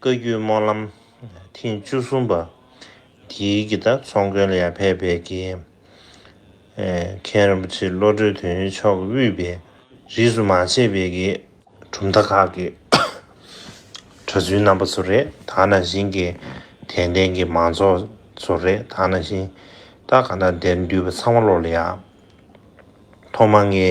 བཀའ་བརྒྱུད་སྨོན་ལམ་ཐེངས་བཅུ་གསུམ་པ། དེའི་གི་ད་ཚོང་དགོན་ལ་ཡར་ཕེབས་པའི་དགེ་རྒན་རིན་པོ་ཆེ་བློ་གྲོས་དོན་གཉེར་མཆོག་གི་དབུས་པའི་རིས་སུ་མ་ཆད་པའི་དགེ་གྲུབ་མཐའ་ཁག་གི་གྲྭ་བཙུན་རྣམ་པ་ཚོ་རེད་ད་ནང་བཞིན་གྱི་དད་ལྡན་གྱི་མང་ཚོགས་ཚོ་རེད་ད་ནང་བཞིན་ད་ག་ན་དེར་འདུས་པ་ཚང་མ་བློ་ལ་ཡག་ཐོག་མ་ངའི་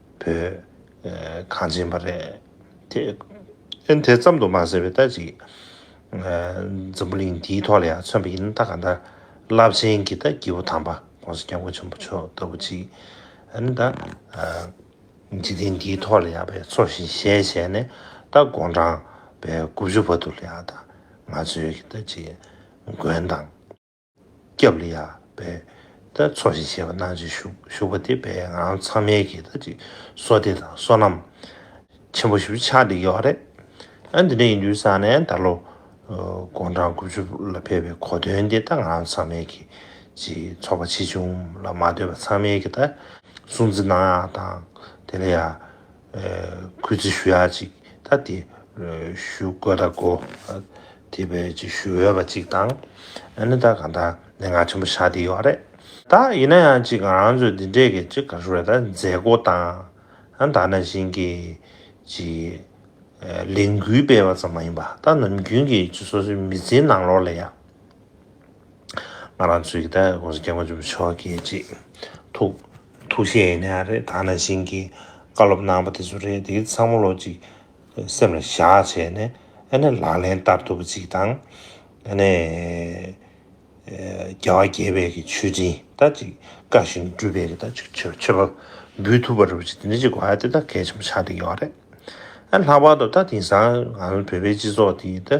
བོད་གངས་ཅན་པ་རེད། དེ་ཨེ་དེ་ཙམ་དུ་མ་ཟེར་བའི་ལྟ་ཅིག། འཛམ་བུ་གླིང་འདིའི་ཐོག་ལ་ཡང་མཚོན་པ་ཡིན་ན་ད་ག་ད་རླབས་ཆེན་གྱི་ད་སྐྱེས་བུ་དམ་པ ྋགོང་ས ྋསྐྱབས་མགོན་ཆེན་པོ་མཆོག་ལྟ་བུ་ཅིག་ཨ་ནི་ད་འཇིག་རྟེན་འདིའི་ཐོག་ལ་ཡང་བའི་ཚོགས་བཞིན་གཞལ་བྱས་ནས་ད་དགོངས་དྲངས་པའི་དགུ་བཅུ་བ་དུ་ལ་ཡང་ད་ང་ཚོའི་ཀྱི་ད་ཅིག་མགོན་དང། སྐྱབས་ལ་ཡར་འབད་དེ་ཚོགས་ཞིང་བྱེད་པ་གནང་བྱེད་བཞུགས་པ་དེ་བས་ང་རང་ཚང་མའི་གིས་ད་ཅིག་སོ་སྡེ་དང་བསོད་ནམས་ཆེན་པོ་ཞིག་བུ་ཆགས་འདི་ཡོད་རེད་ཨ་འདི་འདྲ་ཡིན་དུས་བསམ་ནས་ད་ལོ་དགུང་གྲངས་དགུ་བཅུ་ལ་ཕེབས་པའི་གོ་དོན་དེ་ད་ང་རང་ཚང་མའི་གིས་ཅིག་ཚོགས་པ་ཆེ་ཆུང་ལ་མ་ལྟོས་པར་ཚང་མའི་གིས་ད་སྲུང་བརྩི་གནང་ཡག་དང་དེ་ལ་ཡར་གུས་བརྩི་ཞུ་ཡ་ཅིག་ད་དེ་ཞུ་དགོས་ད་གོ། དེ་བས་ཅིག་ཞུ་འོས་པ་ཅིག་དང། ཨ་ནི་ད་གང་དག་ནས་ང་ཆེན་པོ་ཞག་དེ་ཡོད་རེད། ད་ཡིན་ན་ཡང་ཅིག་ང་རང་ཚོས་འདི་འདྲས་ཀྱི་ཅིག་ག་ཞུ་རེད་ད་མཛད་སྒོ་དང། ད་ནང་བཞིན་གྱི་ཅིག་ལས་འགུལ་སྤེལ་བ་ཙམ་མ་ཡིན་པ་ད་ནམ་རྒྱུན་གྱི་ཅིག་སོ་སོའི་མི་ཚེའི་ནང་ལོགས་ལ་ཡ། ང་རང་ཚོའི་ད་གོང་ས་སྐྱབས་མགོན་ཆེན་པོ་མཆོག་གིས་གཅིག་ཐུགས་ཐུགས་བཞེད་ཡེ་ནས་རེད་ད་ནང་བཞིན་གྱི་བཀའ་སློབ་གནང་པ་དེ་ཚོ་རེད་དེ་ཚང་མ་ལོ་གཅིག་སེམས་ལ་བཞག་བྱས་ནས་ཨ་ནི་ལག་ལེན་བསྟར་ཐུབ་པ་གཅིག་དང་ཨ་ནི་རྒྱལ་བ་དགྱེས་པའི་གི་ཆོས་འབྲིང་ད་གཅིག་བཀའ་བཞིན་སྒྲུབ་པའི་གི་ད་གཅིག་ཆོས་ཆོས་པ་འབུལ་ཐུབ་པ་རེད་གཅིག་དེ་འདྲ་གཅིག་གོ་དེ་ད་གལ་ཆེན་པོ་ཆགས་བསྡད་ཡོད་རེད་ཨ་ལྷག་པར་དུ་ད་དེང་སང་ང་ཚོ་བོད་པའི་སྤྱི་ཚོགས་དེ་ད་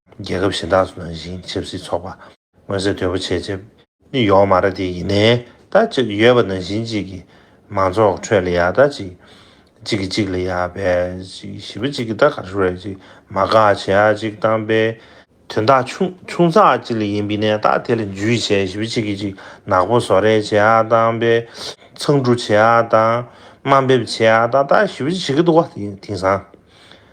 རྒྱལ་ཁབ་གཞན་དག་སུ་ནང་བཞིན་ཆབ་སྲིད་ཚོགས་པ། མངོན་གསལ་དོད་པོ་བྱས་རྗེས། ནི་ཡོང་མ་ར་དེ་ཡིན་ནའི། ད་གཅིག་ཡོད་པ་ནང་བཞིན་གཅིག་གི། མང་ཚོགས་ཁྲོད་ལ་ཡ་ད་གཅིག། གཅིག་གི་གཅིག་ལ་ཡ་བས་གཅིག། བཞི་པ་གཅིག་གི་ད་གར་ཤོར་བས་གཅིག། མ་དགའ་བྱེད་ཡ་གཅིག་བཏང་པས། དོན་དག་ཆུང་ཆུང་ཚགས་གཅིག་ལ་ཡིན་པས་ནས་ད་དེ་ལ་འཇུ་ཡི་བྱས་བཞི་པ་གཅིག་གི་གཅིག། ནག་པོ་བཟོ་རེས་བྱེད་ཡ་བཏང་པས། མཚང་འབྲུ་བྱེད་ཡ་བཏང། དམའ་འབེབས་བྱེད་ཡ་བཏང་ད་བཞི་པ་གཅིག་གི་ད་དུ་བ་དེ་ཡིན་དེང་སང།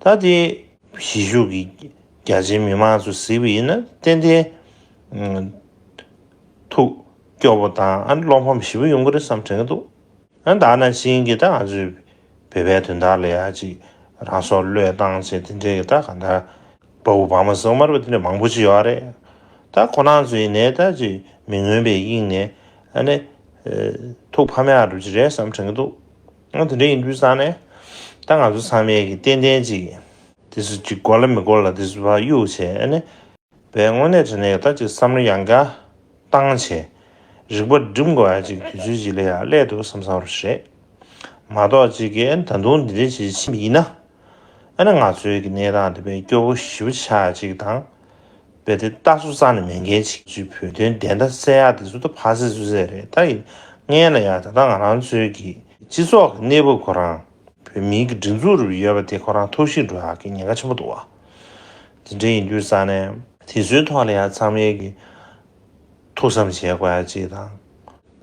ད་ལྟའི་གཞིས་བཞུགས་ཀྱི་རྒྱ་ཆེའི་མི་མང་ཚོ་གཟིགས་པ་ཡིན་ན་ཏན་ཏན་ཐུགས་སྐྱོ་པོ་དང་ཨ་བློ་ཕམ་ཞིབ་པོ་ཡོང་གི་རེད་བསམ་དྲན་གྱི་འདུག་ཨ་ད་ནང་བཞིན་གྱི་ད་ང་ཚོའི་བོད་པའི་དོན་དག་ལ་ཡ་ཅིག་རང་སྲོག་བློས་བཏང་བྱས་དེ་འདྲའི་གི་ད་ག་འདྲ་དཔའ་བོ་བག་མ་སེང་དམར་པོ་དེ་འདྲ་མང་པོ་ཅིག་ཡོད་རེད་ད་ཁོ་ན་ཚོ་ཡིན་ནའི་ད་ཅིག་མི་མངོན་པའི་དབྱིངས་ནས་ཨ་ནི་ཐུགས་ཕམ་ཡག་གྲུབ་ཅིག་རེད་བསམ་དྲན་གྱི་འདུག། ང་དེ་འདྲ་ཡིན་དུས་བསམ་ནས་ད་ང་ཚོ་ཚང་མས་ཀྱི་ཏན་ཏན་ཅིག། དེ་སུ་གཅིག་གོ་ལ་མི་གོ་ལ་དེ་སུ་བ་གཡུག་བྱེད་ཨ་ནི། བའི་དངོས་གནས་དྲན་ནས་ཡོད་ད་ཅིག་བསམ་བློ་ཡང་དགའ། བཏང་བྱས། རིག་པ་སྒྲིམ་དགོས་ཨ་ཅིག་དུས་ཚོད་ཅིག་ལས་ཡག་ཀླད་འདུག་བསམ་བསམ་རུ་བྱེད། མ་གཏོགས་ཅིག་གིས་ད་དུང་འདི་འདྲའི་བྱེད་ཕྱིན་ཡིན་ན། ཨ་ནི་ང་ཚོའི་གི་གནས་སྟངས་དེ་བས་སྐྱོ་བོ་ཞིབ་ཆ་གཅིག་དང། བས་དེ་ལྟ་སུ་ཙང་ནས་མེད་མཁན་ཞིག་ཅིག་བོད་དོན་བདེན་མཐའ་གསལ་ཡག་དེ་ཚོ་ད་ཕ་སེ་སུ་སེ་རེད་ད་ཡིན་ངའི་ན་ཡག་ད་ལྟ་ང་རང་ཚོའི་གི་སྤྱི་ཚོགས་གི་གནས་བབ་ཁོ་རང་བོད་མིའི་གི་སྒྲིག་འཛུགས་རུ་ཡོད་པ་དེ་ཁོ་རང་ཐུགས་ཤིང་འགྲོ་ཡག་གི་ཉེན་ཁ་ཆེན་པོ་འདུག་དེ་འདྲ་ཡིན་དུས་ཙང་ནས། དེ་ཚོའི་ཐོག་ལ་ཡང་ཚང་མའི་གི་ཐུགས་བསམ་བཞེས་དགོས་ཡག་ཅིག་དང།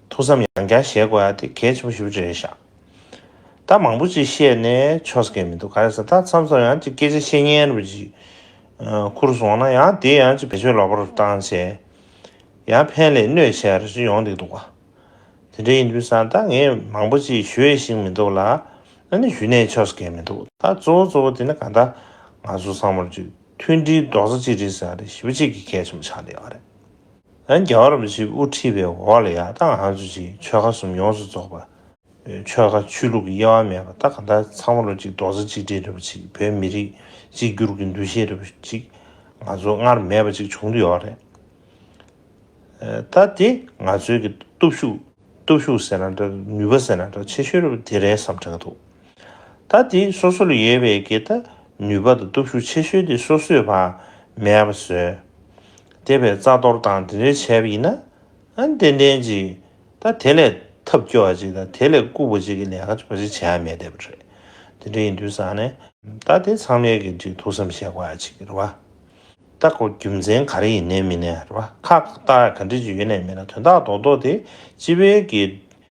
ཐུགས་བསམ་ཡང་རྒྱ་བཞེས་དགོས་ཡག་དེ་གལ་ཆེན་པོ་ཞིབ་ཅིག་རེད་ཤག། ད་མང་པོ་ཅིག་བཤད་ནས་ཆོ་ས་ཀས་མི་འདུག་ག་རེ་ཟེར་ད་མཚམས་སོང་ཡང་ཅིག་སྐད་ཆ་བཤད་ཉན་རུ་ཅིག་ཁུར་རུ་སོང་ན་ཡང་དེ་ཡང་ཅིག་བེད་སྤྱོད་ལོག་པར་རུ་བཏང་བྱས་ཡང་ཕན་ལས་གནོད་ཆེ་རུ་ཅིག་ཡོང་འདུག་འདུག་ག་དེ་འདྲ་ཡིན་དུས་སང་ད་ངས་མང་པོ་ཅིག་ཞུ་ཡས་ཤིག་མི་འདུག་ལ་ཨ་ནི་ཞུ་ནས་ཆོ་ས་ཀས་མི་འདུག་ད་གཙོ་བོ་གཙོ་བོ་དེ་ནི་ག་ད་ང་ཚོ་སང་མོར་ཅིག་མཐུན་སྒྲིལ་རྡོག་རྩ་གཅིག་སྒྲིལ་ཟེར་བ་དེ་ཞིབ་པོ་གཅིག་གི་གས་ཆེན་པོ་ཆགས་འདུག་ག་རེད། ཡང་རྒྱ་གར་བ་ཞིག་དབུ་ཁྲིད་པའི་འོག་ལ་ཡག་ཐང་ཧང་ཆུ་ཆེའི་ཆོལ་ཁ་གསུམ་ཡོངས་སུ་རྫོགས་པ། ཆོལ་ཁ་ཆོས་ལུགས་ཀྱི་དབྱེ་བ་མེད་པ་ད་ག་ད་ཚང་མ་ལོ་གཅིག་རྡོག་རྩ་གཅིག་སྒྲིལ་རེ་བ་ཅིག་བོད་མི་རིགས་གཅིག་གྱུར་གྱི་འདུ་ཤེས་རེ་བ་ཅིག་ང་ཚོ་སྔར་མེད་པ་ཅིག་བྱུང་དུ་ཡོད་རེད། ད་དེ་ང་ཚོའི་གི་སྟོབས་ཤུགས་སྟོབས་ཤུགས་ཟེར་ན་འདྲ་ནུས་པ་ཟེར་ན་འདྲ་ཆེ་ཤོས་རེ་བ་དེ་རེད་བསམ་འདྲ་འདུག་ད་དེ་སོ་སོ་ལ་ཡོད་པའི་གི་ད་ནུས་པ་དང་སྟོབས་ཤུགས་ཆེ་ཤོས་དེ་སོ་སོས་བ་མེད་པ་བཟོས། དེ་བས་རྩ་གཏོར་དང་དེ་འདྲའི་བྱས་པ་ཡིན་ན། ཨན་ཏན་ཏན་གྱིས་ད་དེ་ལས་ཐབས་སྐྱོ་བ་ཅིག་དང་དེ་ལས་ལྐུགས་པ་ཅིག་གི་ལས་ཀ་ཅུང་ཟད་བྱས་ཡ་མེད་བསྡད་པ་རེད། དེ་འདྲ་ཡིན་དུས་བཟང་ནས། ད་དེ་ཚང་མའི་གི་འདྲིས་ཐུགས་བསམ་བཞེས་བ་ཅིག་རེད་བ། ད་ཁོ་རྒྱུ་མཚན་ག་རེ་ཡིན་ནའི་མིན་ནའི་རེད་བ། ཁག་ཁག་ཏག་ག་འདྲི་ཅིག་ཡོད་ནའི་མིན་ན་དོན་དག་རྡོག་རྡོག་དེ་སྤྱི་བའི་གི་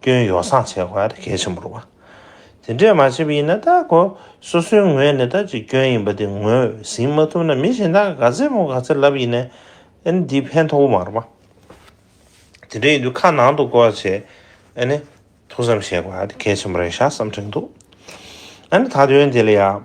སྐྱོན་ཡོ་བསྲང་བྱེད་དགོས་པ་དེ་གལ་ཆེན་པོ་རུང་བ། དེ་འདྲས་མ་བྱས་པ་ཡིན་ན་ད་གོ་སོ་སོའི་ངོས་ནས་ད་ཅི་སྐྱོན་ཡིན་པ་དེ་ངོས་ཟིན་མ་ཐུབ་ན་མི་གཞན་དག་ག་ཚད་མོ་ག་ཚད་ལབ་ཡིན་ནའི་ཨན་འདི་ཕན་ཐོགས་པོ་མ་རུང་བ། དེ་འདྲས་ཡིན་དུས་ཁ་ནང་དུ་གོ་བ་བྱེད་ཨན་ཐུགས་བསམ་བཞེས་དགོས་པ་དེ་གལ་ཆེན་པོ་རེད་ཤག་བསམ་དྲན་འདུག་ཨན་ད་དོན་དེ་ལ་ཡག